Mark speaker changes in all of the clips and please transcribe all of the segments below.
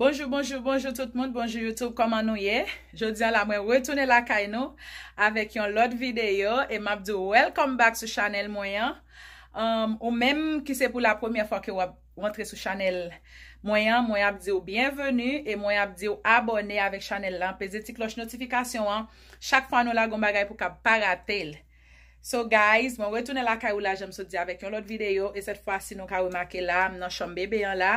Speaker 1: Bonjou bonjou bonjou tout moun bonjou YouTube kòman nou ye jodi ala mwen retounen lakay nou avèk yon lòt videyo e map di welcome back sou chanel mwen an um, ou menm ki se pou la premyè fwa ke wap rentre sou chanel mwen an mwen ap diw byenveni e mwen ap diw abone avèk chanel lan peze ti klòch notifikasyon an chak fwa nou lagon bagay pou kap pa ratel So guys mwen retounen lakay ou la janm sot di avèk yon lòt videyo e sèt fwa si nou ka remake la m nan chanm bebe an la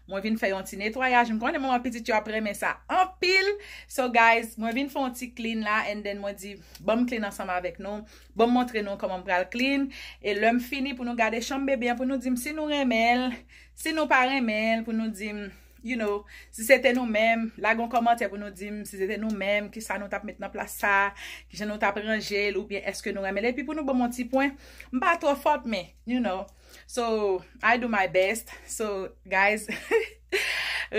Speaker 1: mwen vin fè yon ti netwayaj m konnen manman pitit yo ap renmen sa anpil so guys mwen vin fè yon ti clean la and then mwen di banm clean ansanm avèk nou banm montre nou kòman m pral clean e lèm fini pou nou gade chanm bebe an pou nou dim si nou renmenl si nou pa renmenl pou nou dim. You know, si se te nou menm, lage yon kòmantè pou nou di m, si se te nou menm, ki sa nou t ap met nan plas sa, ki jan nou t ap ranje l, oubyen èske nou renmen l, epi pou nou ban m yon ti pwen, m pa twò fòt men, you know, so, I do my best, so, guys,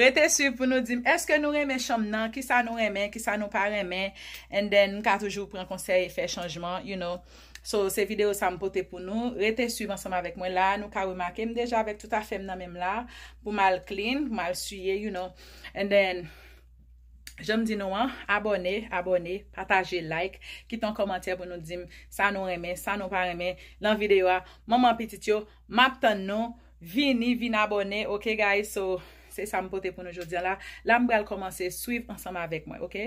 Speaker 1: rete swiv pou nou di m, èske nou renmen chanm nan, ki sa nou renmen, ki sa nou pa renmen, and then, m ka toujou pran konsèy e fè chanjman, you know. So, se videyo sa m pote pou nou. Rete swiv ansanm avèk mwen. La a, nou ka remake m deja avèk tout afè m nan men m la a, pou m al clean, pou m al siye, you know. And then, jan m di nou an, abòne, abòne, pataje, like, kite yon kòmantè pou nou di m sa nou renmen, sa nou pa renmen nan videyo a. Manman pitit yo, m ap tann nou. Vini, vin abòne, ok guys? So, se sa m pote pou nou jodi an la. La m pral kòmanse, swiv ansanm avèk mwen, ok?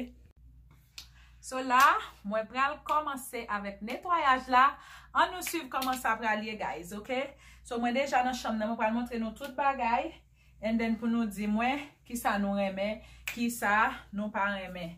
Speaker 1: So la mwen pral komanse avèk netwayaj la an nou swiv koman sa pral ye guys ok so mwen deja nan chanm nan mwen pral montre nou tout bagay and then pou nou di mwen kisa nou renmen kisa nou pa renmen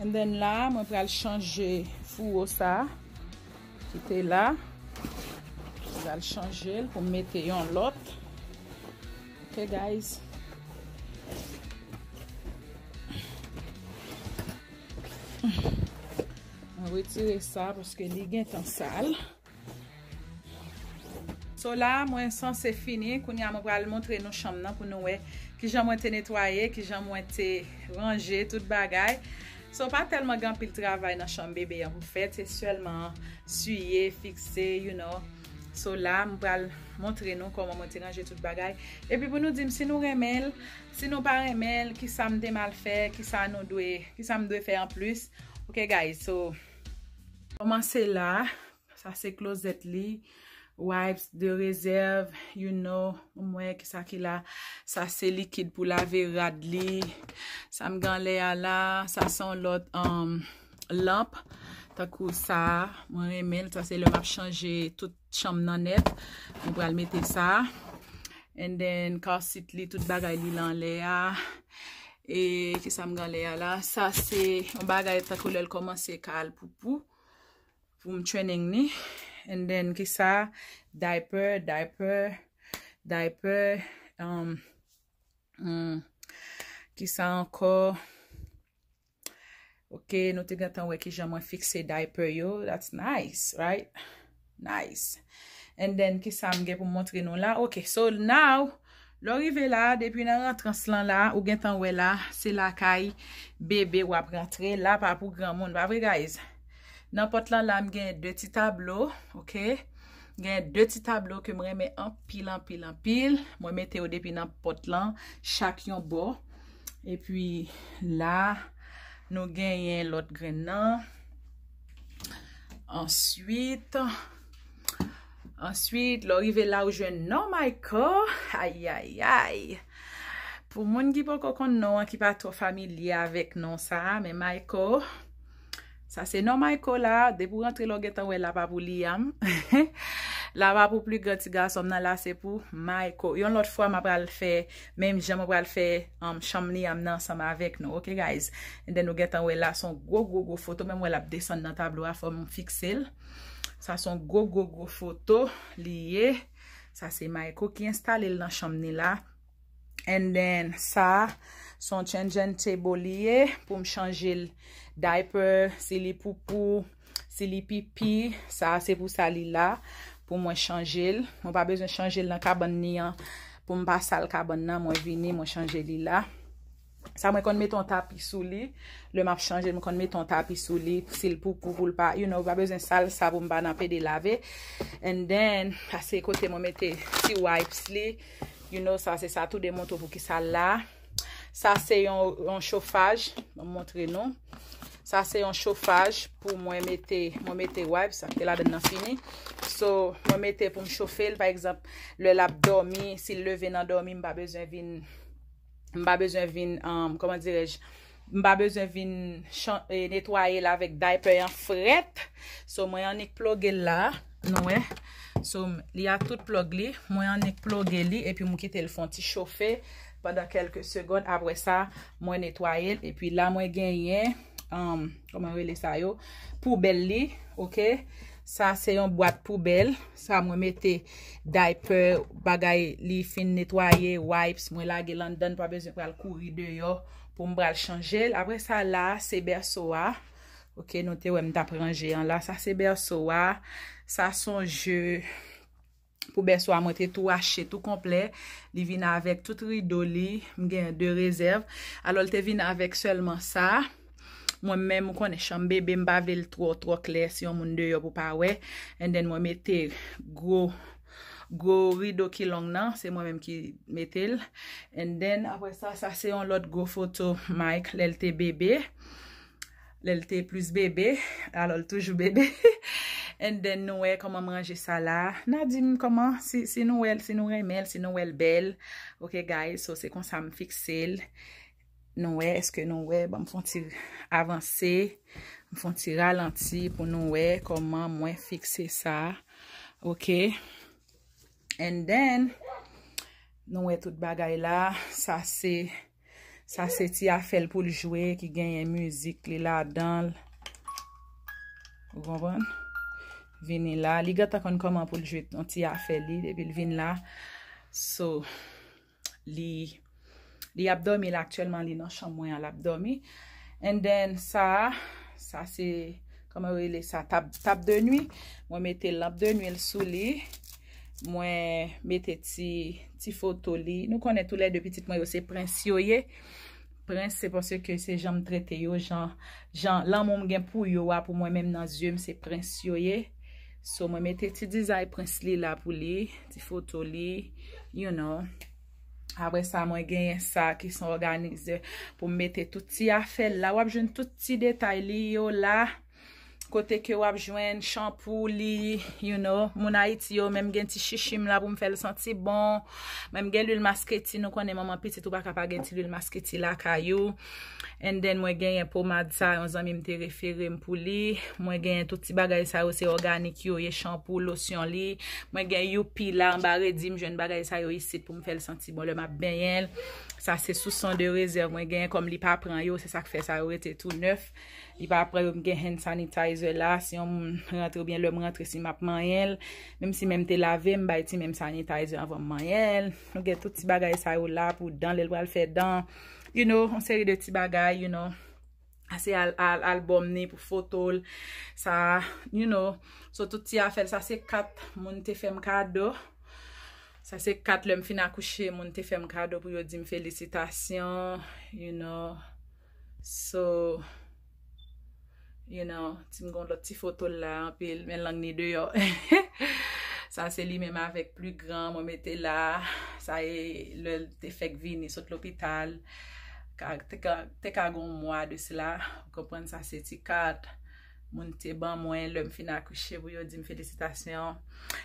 Speaker 1: And then la a mwen pral chanje fouwo sa ki te la. Mwen pral chanje l pou m mete yon lòt. Ok guys. Mwen retire sa paske li gentan sal. Ok. So la mwen sanse fini, kounye a mwen pral montre nou chanm nan pou nou wè kijan mwen te netwaye, kijan mwen te ranje tout bagay. So pa tèlman gen anpil travay nan chanm bebe an pou fè, se sèlman siye, fikse, you know. So la mwen pral montre nou kòman mwen te ranje tout bagay. Epi pou nou di m si nou renmen l, si nou pa renmen l, kisa m te mal fè, kisa nou dwe, kisa m dwe fè anplis. Ok guys, so. Komanse la, sa se klozèt li, wipes de rezèv, you know, m wè ki sa ki la, sa se likid pou lave rad li, sa m gen anlè a la, sa se yon lòt lanp, tankou sa, mwen renmen l, sa se lè m ap chanje tout chanm nan nèt nou pral mete sa and then car seat li tout bagay li lan lè a e kisa m gan lè a la sa se yon bagay tankou lèl komanse ka al poupou pou m training ni and then kisa diaper diaper diaper emm emm kisa ankò. Ok, nou te gentan wè kijan mwen fikse diaper yo. That's nice, right? Nice. And then, kisa m gen pou m montre nou la? Ok, so now, lè w rive la, depi nan rantrans lan la, ou gentan wè la, se lakay bebe w ap rantre. La pa pou granmoun, pa vre guys? Nan pòt lan la, m gen de ti tablo, ok? Gen de ti tablo ke m renmen anpil, anpil, anpil. Mwen mete yo depi nan pòt lan, chak yon bò. Epi la, nou genyen lòt grenn nan. Answit, answit, lè w rive la ou jwenn non Mayko. Ayayay! Pou moun ki poko konn non an, ki pa twò familye avèk non sa a, men Mayko. Sa se non Mayko la, depi w rantre la w gentan wè lava pou Liam. Lava pou pli gran ti gason m nan, la se pou Mayko. Yon lòt fwa m apral fè menm jan mwen pral fè um, chanm Liam nan ansanm avèk nou ok guys. And then nou gentan wè la son gwo gwo gwo foto menm wè l ap desann nan tablo a fò m fikse l. Sa son gwo gwo gwo foto li ye. Sa se Mayko ki enstale l nan chanm ni la. And then sa son changean table li ye pou m chanje l diaper si li poupou, si li pipi, sa se pou sa li la pou mwen chanje l. Mwen pa bezwen chanje l nan kabann li an pou m pa sal kabann nan mwen vini mwen chanje li la. Sa mwen konn mete yon tapi sou li. Lè map chanje mwen konn mete yon tapi sou li. Sil pou pou pou l pa. You know pa bezwen sal sa pou m pa nan pede lave. And then. Sa se kote mwen mete ti wipes li. You know sa se sa tou de mouton pou ki sa la. Sa se yon chofaj. Mwen montre nou. Sa se yon chofaj pou mwen mete. Mwen mete wipes. Sa ki te la den nan fini. So mwen mete pou m chofe l. Pa ekzamp lè lap domi. Sil leve nan domi m pa bezwen vin. m pa bezwen vin, kòman dirèj, m pa bezwen vin netwaye l avèk daypè an frèt. So mwen annik ploge l la, nou wè. So li a tout plòg li, mwen annik ploge li epi m kite l fon ti chofe pandan kèlke segond. Apre sa, mwen netwaye l epi la mwen genyen, kòman rele sa yo, poubèl li, ok. Sa se yon bwat poubèl. Sa mwen mete diaper bagay li fin netwaye wipes mwen lage lan dan pa bezwen pral kouri deyo pou m pral chanje l apre sa la se bèso a ok nou te wè m tap ranje an la sa se bèso a sa son je pou bèso a mwen te tou achte tou konplè li vin avèk tout rido li m gen de rezèv alò l te vin avèk sèlman sa. Mwen menm ou konnen chanm bebe m pa vle l twò twò klè si yon moun deyò pou pa wè and then mwen mete gwo gwo rido ki long nan se mwen menm ki mete l and then apre sa sa se yon lòt gwo foto Mike lè l te bebe lè l te plis bebe alò l toujou bebe and then nou wè kòman m ranje sa la na di m kòman si nou wè l si nou renmen l si nou wè l bèl ok guys so se konsa m fikse l. Nou wè, eske nou wè, banm fon ti avanse, m fon ti ralanti pou nou wè koman mwen fikse sa, ok, and then, nou wè tout bagay la, sa se, sa se ti afèl pou l jwe ki genyen mizik li la danl, ou konprann, vini la, li gentan konn koman pou l jwe yon ti afèl li depi l vin la, so. li li ap dòmi la aktyèlman li nan chanm mwen an lap dòmi and then sa a sa se kòman yo rele sa tab de nwi mwen mete lanp de nwi l sou li mwen mete ti ti foto li nou konnen tou lè de pitit mwen yo se prens yo ye Prince se paske se janm trete yo jan jan lanmou m gen pou yo a pou mwen menm nan yeux m se prince yo ye so mwen mete ti dizay prince li la pou li ti foto li you know apre sa mwen genyen sa ki son organizer pou m mete tout ti afè l la wap jwenn tout ti detay li yo la. kote ke wap jwenn chanpou li, you know, moun Ayiti yo, menm gen ti chichi m la pou m fè l santi bon, menm gen lwil masketi, nou konnen manman pitit ou pa ka pa gen ti lwil masketi lakay ou, and then mwen genyen pomad sa yon zanmi m te refere m pou li, mwen genyen tout ti bagay sa yo se òganik yo ye, chanpou, losyon li, mwen gen youpi la anba redi, m jwenn bagay sa yo isit pou m fè l santi bon lè map benyen l, sa se sou son de rezèv mwen genyen kòm li pa pran yo, se sak fè sa yo rete tou nèf. Li pa pran yo m gen hand sanitizer la si yon moun rantre oubyen lè m rantre si m ap manyen l menm si men m te lave m bay ti men m sanitizer anvan m manyen l nou gen tout ti bagay sa yo la pou dan lè l pral fè dan you know yon seri de ti bagay you know ase album ni pou foto l sa you know sou tout ti afè l sa se kat moun te fè m kado sa se kat lè m fin akouche moun te fè m kado pou yo di m felisitasyon you know. So You know Ti m gon lòt ti foto l la anpil men lang ni deyò Sa se li menm avèk pli gran mwen mete la Sa e lè l te fèk vini sot lopital Te ka gon mwa de sela Ou konprann sa se ti kat Moun te ban mwen lè m fin akouche pou yo di m felisitasyon.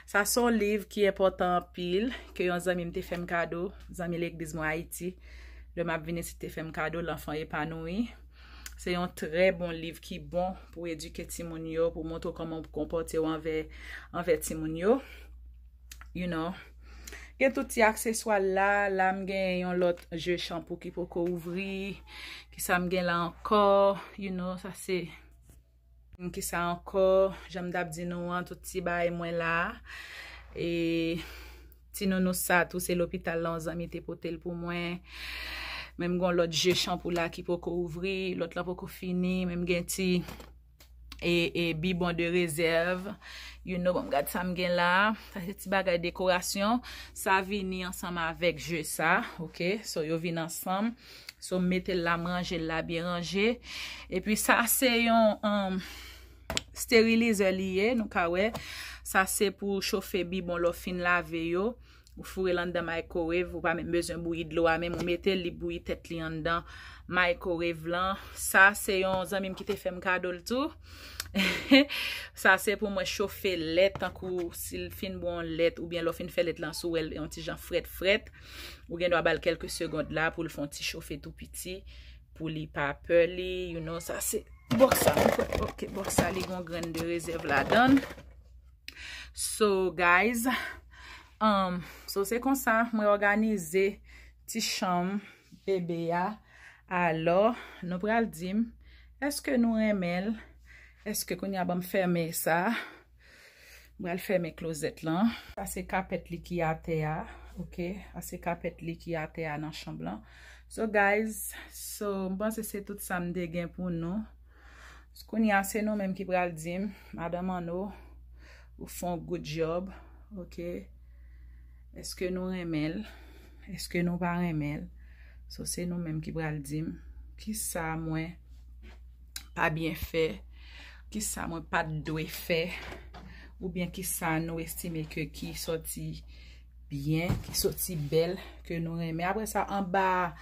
Speaker 1: Sa se yon liv ki enpòtan anpil, ke yon zanmi m te fè m kado, zanmi legliz mwen Ayiti, lè m ap vin isit te fè m kado, L'enfant épanoui. Se yon trè bon liv ki bon pou edike timoun yo, pou montre w kòman pou konpòte w anvè timoun yo. You know. Gen tout ti akseswa la. La m gen yon lòt je chanpou ki poko ouvri. Ki sa m gen la ankò. You know, sa se. Ki sa ankò. Jan m tap di nou an, tout ti bagay mwen la. E ti nounous sa tou se lopital la yon zanmi te pote l pou mwen. Men m gen yon lòt je chanpou la ki poko ouvri. Lòt la poko fini. Men m gen ti. e bibon de rezèv you know banm gad sam gen la sa se ti bagay dekorasyon sa vini ansanm avèk je sa ok so yo vini ansanm so metel la m ranjel la byen ranje epi sa se yon um, sterilizè li ye nou ka wè sa se pou chofe bibon lè w fin lave yo. Ou fourel anndan microwave ou pa menm bezwen bouyi dlo a menm ou metel li bouyi tèt li anndan microwave lan sa se yon zanmim ki te fèm kadol tou sa se pou mwen chofe lèt tankou sil fin bwè yon lèt oubyen lèw fin fè lèt lan si ou wèl yon ti jan frèt frèt ou gen dwa bal kèlke segond la poul fon ti chofe tou piti pou li pa pè li you know sa se bòk sa ok bòk sa li gon grenn de rezèv ladann. So guys, um, so se konsa mwen òganize ti chanm bebe a. Alò, nou pral di m, eske nou renmen l? Eske kounye a banm fèmen sa? M pral fèmen klozèt lan. Sa se kapèt li ki atè a, ok? Sa se kapèt li ki atè a nan chanm lan. So guys, so m panse se tout sa m te gen pou nou. S kounya se nou menm ki pral dim Madan Manno ou fon good job ok eske nou renmenl eske nou pa renmenl so se nou menm ki pral dim kisa mwen pa byen fè kisa mwen pat dwe fè oubyen kisa nou estime ke ki sòti byen, ki soti bèl, ke nou renmen. Apre sa, anba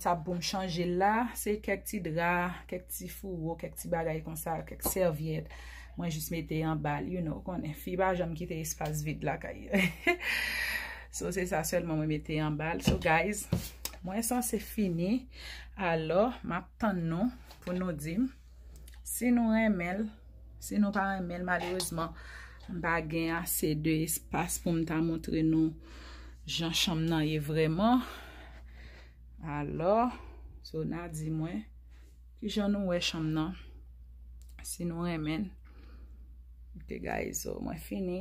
Speaker 1: tab pou m chanje la, se kèk ti dra, kèk ti fouwo, kèk ti bagay kon sa, kèk sèvyèt, mwen jis mete anba l, you know, konnen, fi pa janm kite espas vid la kay. So, se sa sèlman mwen mete anba l. So, guys, mwen sanse fini. Alò, m ap tann nou pou nou di m. Si nou renmen l, si nou pa renmen l, malerezman, m pa gen ase de espas pou m ta montre nou jan chanm nan ye vreman. Alò, Sona di mwen, ki jan nou wè chanm nan? Si nou renmen l. Ok guys, so mwen fini.